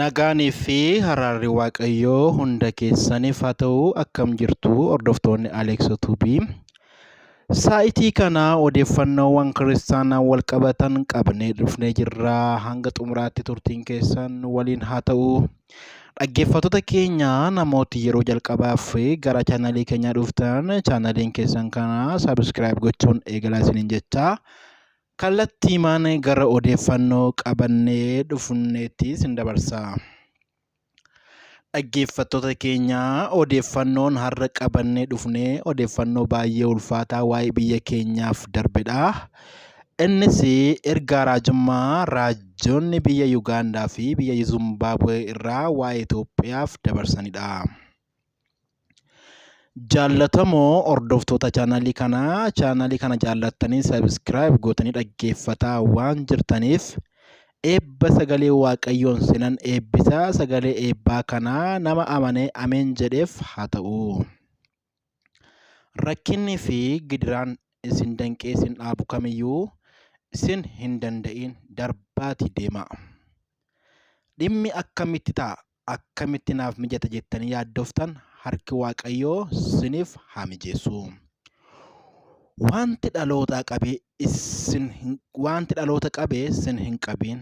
Nagaanii fi haraarri Waaqayyoo hunda keessaniif haa ta'u akkam jirtu hordoftoonni Aleeksoo Tuubii. Saa'itii kana odeeffannoowwan kiristaanaan wal qabatan qabnee dhufnee jirra. Hanga xumuraatti turtiin keessan nu waliin haa ta'u. Dhaggeeffattoota keenya namooti yeroo jalqabaaf gara chaanalii keenyaa dhuftan chaanaliin keessan kana sabiskiraayib gochuun eegalaa isiniin jechaa. Kallattiimaan gara odeeffannoo qabannee dhufneetti isin dabarsa. Dhaggeeffattoota keenya odeeffannoon har'a qabannee dhufne odeeffannoo baay'ee ulfaataa waa'ee biyya keenyaaf darbedha. Innis ergaa raajummaa raajonni biyya Yugaandaa fi biyya Zimbaabuwee irraa waa'ee Itoophiyaaf dabarsanidha. Jaallatamoo hordoftoota chaanaalii kanaa chaanaalii kana jaallattanii sabiskiraayib gootanii dhaggeeffataa waan jirtaniif eebba sagalee waaqayyoon sinan eebbisaa sagalee eebbaa kanaa nama amanee ameen jedheef haa ta'u. Rakkinni fi gidiraan isin danqee isin dhaabu kamiyyuu isin hin danda'in darbaati deemaa. Dhimmi akkamitti ta'a akkamitti naaf mijata jettanii yaaddoftan harki Waaqayyoo siniif haa mijeessu. Wanti dhalootaa qabe isin hin wanti dhaloota qabe sin hin qabiin.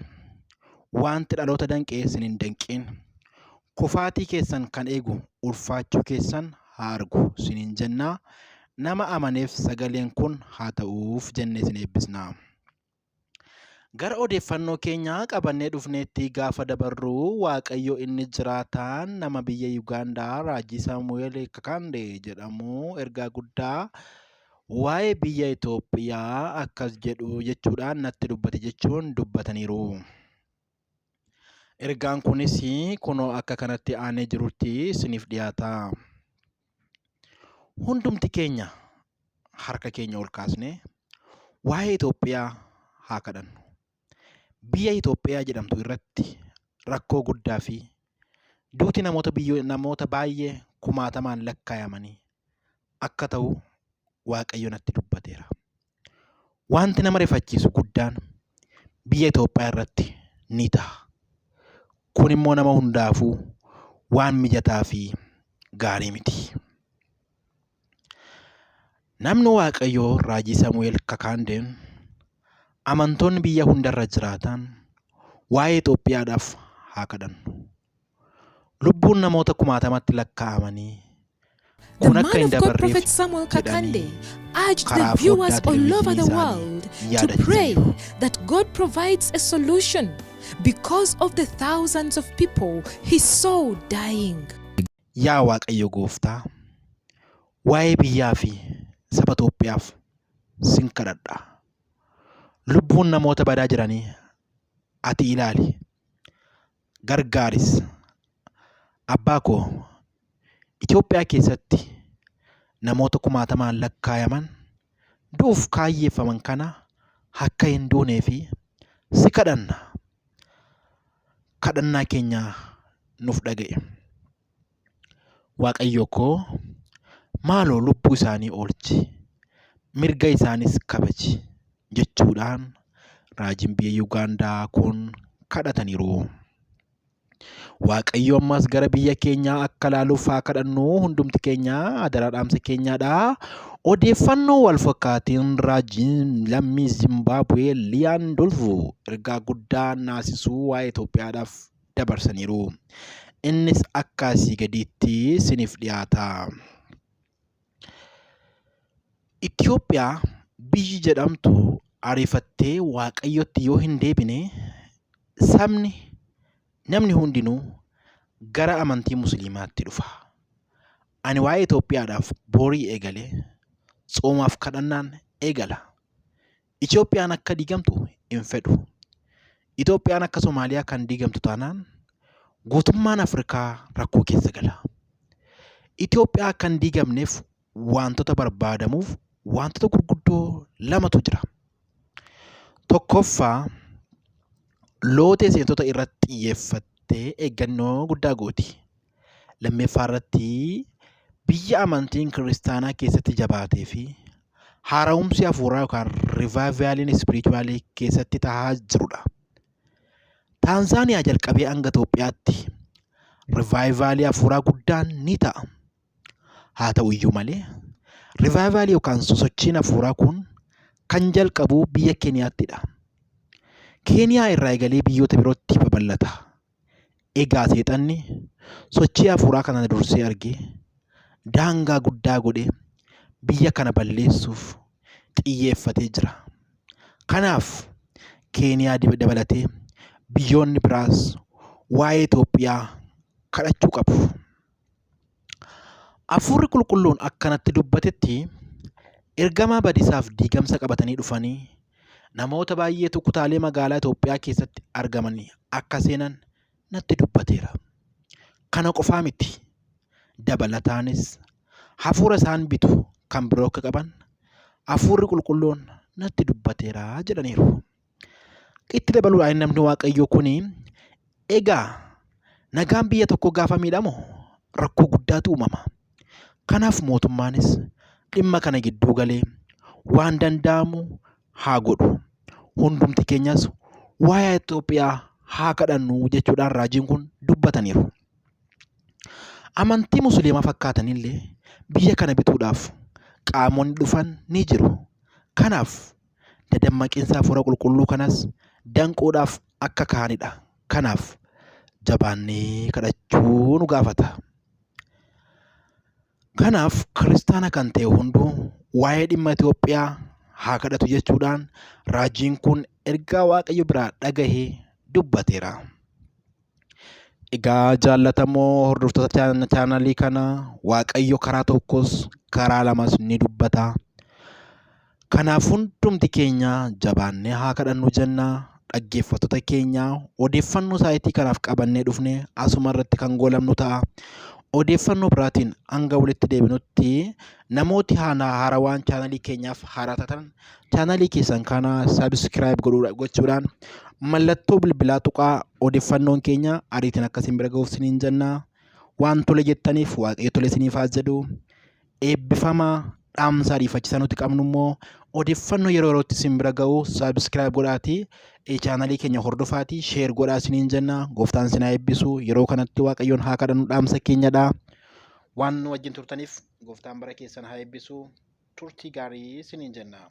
Wanti dhaloota danqe sin hin danqiin. Kufaatii keessan kan eegu ulfaachuu keessan haa argu siniin jennaa. Nama amaneef sagaleen kun haa ta'uuf jennee sin eebbisna. Gara odeeffannoo keenya qabannee dhufneetti gaafa dabarru Waaqayyo inni jiraataan nama biyya Yugaandaa Raajii Saamu'eel Kakande jedhamu ergaa guddaa waa'ee biyya Itoophiyaa akkas jedhu jechuudhaan natti dubbate jechuun dubbataniiru. Ergaan kunis kunoo akka kanatti aanee jirutti isiniif dhiyaata. Hundumti keenya harka keenya ol kaasnee waa'ee Itoophiyaa haa kadhannu. Biyya Itoophiyaa jedhamtu irratti rakkoo guddaa fi duuti namoota biyyoo namoota baay'ee kumaatamaan lakkaayamanii akka ta'u Waaqayyo natti dubbateera. Wanti nama rifachiisu guddaan biyya Itoophiyaa irratti ni ta'a. Kun immoo nama hundaafuu waan mijataa fi gaarii miti. Namni Waaqayyoo raajii Samu'eel Kakaandeen amantoonni biyya hundarra jiraatan waa'ee Itoophiyaadhaaf haa kadhannu. lubbuun namoota kumaatamatti lakkaa'amanii The kun akka man hin of God, Prophet dabarreef Samuel Kakande, jedhanii urged the karaa viewers foddaa all over the televizyinii world isaanii to yaadachiisan pray jiru. that God provides a solution because of the thousands of people he saw dying. Yaa Waaqayyo Gooftaa, waa'ee biyyaa fi saba Itoophiyaaf sin kadhadha. Lubbuun namoota badaa jiranii ati ilaali. gargaaris. Abbaa koo Itoophiyaa keessatti namoota kumaatamaan lakkaayaman du'uuf kaayyeeffaman kana akka hin duunee fi si kadhanna. Kadhannaa keenya nuuf dhaga'i. Waaqayyo koo maaloo lubbuu isaanii oolchi, mirga isaaniis kabaji jechuudhaan raajiin biyya Yugaandaa kun kadhataniiru. Waaqayyo ammas gara biyya keenyaa akka ilaaluuf haa kadhannu hundumti keenya adaraa dhaamsa keenyaadha. Odeeffannoo wal fakkaatiin raajiin lammii Zimbaabuwee Liyaan Dolvuu ergaa guddaa naasisuu waa'ee Itoophiyaadhaaf dabarsaniiru. Innis akka asii gadiitti siniif dhiyaata. Itoophiyaa biyyi jedhamtu ariifattee waaqayyotti yoo hin deebine sabni namni hundinuu gara amantii musliimaatti dhufa. Ani waa'ee Itoophiyaadhaaf boorii eegale tsoomaaf kadhannaan eegala. Itoophiyaan akka diigamtu hin fedhu. Itoophiyaan akka Somaaliyaa kan diigamtu taanaan guutummaan Afrikaa rakkoo keessa gala. Itoophiyaa akka hin diigamneef waantota barbaadamuuf waantota gurguddoo lamatu jira. Tokkoffaa lootee seentota irratti xiyyeeffattee eeggannoo guddaa gooti. Lammeeffaa irratti biyya amantiin kiristaanaa keessatti jabaatee fi haara'umsi hafuuraa yookaan rivaayivaaliin ispiriichuwaalii keessatti tahaa jirudha. Taanzaaniyaa jalqabee hanga Itoophiyaatti rivaayivaalii hafuuraa guddaan ni ta'a. Haa ta'u iyyuu malee rivaayivaalii yookaan sosochiin hafuuraa kun kan jalqabu biyya Keeniyaattidha. Keeniyaa irraa eegalee biyyoota birootti babal'ata. Egaa seexanni sochii hafuuraa kana dursee argee daangaa guddaa godhee biyya kana balleessuuf xiyyeeffatee jira. Kanaaf Keeniyaa dabalatee biyyoonni biraas waa'ee Itoophiyaa kadhachuu qabu. Hafuurri qulqulluun akkanatti dubbatetti ergamaa badiisaaf diigamsa qabatanii dhufanii namoota baay'eetu kutaalee magaalaa Itoophiyaa keessatti argamanii akka seenan natti dubbateera. Kana qofaa miti dabalataanis hafuura isaan bitu kan biroo akka qaban hafuurri qulqulluun natti dubbateera jedhaniiru. Itti dabaluudhaan namni waaqayyoo kun egaa nagaan biyya tokko gaafa miidhamu rakkoo guddaatu uumama. Kanaaf mootummaanis dhimma kana gidduu galee waan danda'amu haa godhu. Hundumti keenyas waa'ee Itoophiyaa haa kadhannu jechuudhaan raajiin kun dubbataniiru. Amantii musliimaa fakkaatanillee biyya kana bituudhaaf qaamonni dhufan ni jiru. Kanaaf dadammaqinsa hafuura qulqulluu kanas danquudhaaf akka ka'anidha. Kanaaf jabaannee kadhachuu nu gaafata. Kanaaf kiristaana kan ta'e hunduu waa'ee dhimma Itoophiyaa haa kadhatu jechuudhaan raajiin kun ergaa Waaqayyo biraa dhagahee dubbateera. Egaa jaallatamoo hordoftoota chaanalii kana Waaqayyo karaa tokkos karaa lamas ni dubbata. Kanaaf hundumti keenya jabaannee haa kadhannu jenna. Dhaggeeffattoota keenya odeeffannoo sa'aatii kanaaf qabannee dhufne asuma irratti kan goolabnu ta'a. Odeeffannoo biraatiin hanga walitti deebinutti namooti haarawaan chaanalii keenyaaf haaraa taatan chaanalii keessan kana subscribe godhuudha gochuudhaan mallattoo bilbilaa tuqaa odeeffannoon keenya ariitiin akkasiin bira ga'uuf siniin jenna waan tole jettaniif waaqayyo tole siniif haa jedhu eebbifama dhaamsa ariifachisaa nuti qabnu immoo odeeffannoo yeroo yerootti sin bira ga'u subscribe godhaatii chaanalii keenya hordofaatii sheer godhaa siniin jenna gooftaan sinaa eebbisu yeroo kanatti waaqayyoon haa kadhannu dhaamsa keenyadha waan nu wajjin turtaniif gooftaan bara keessan haa eebbisu turtii gaarii isiniin jenna.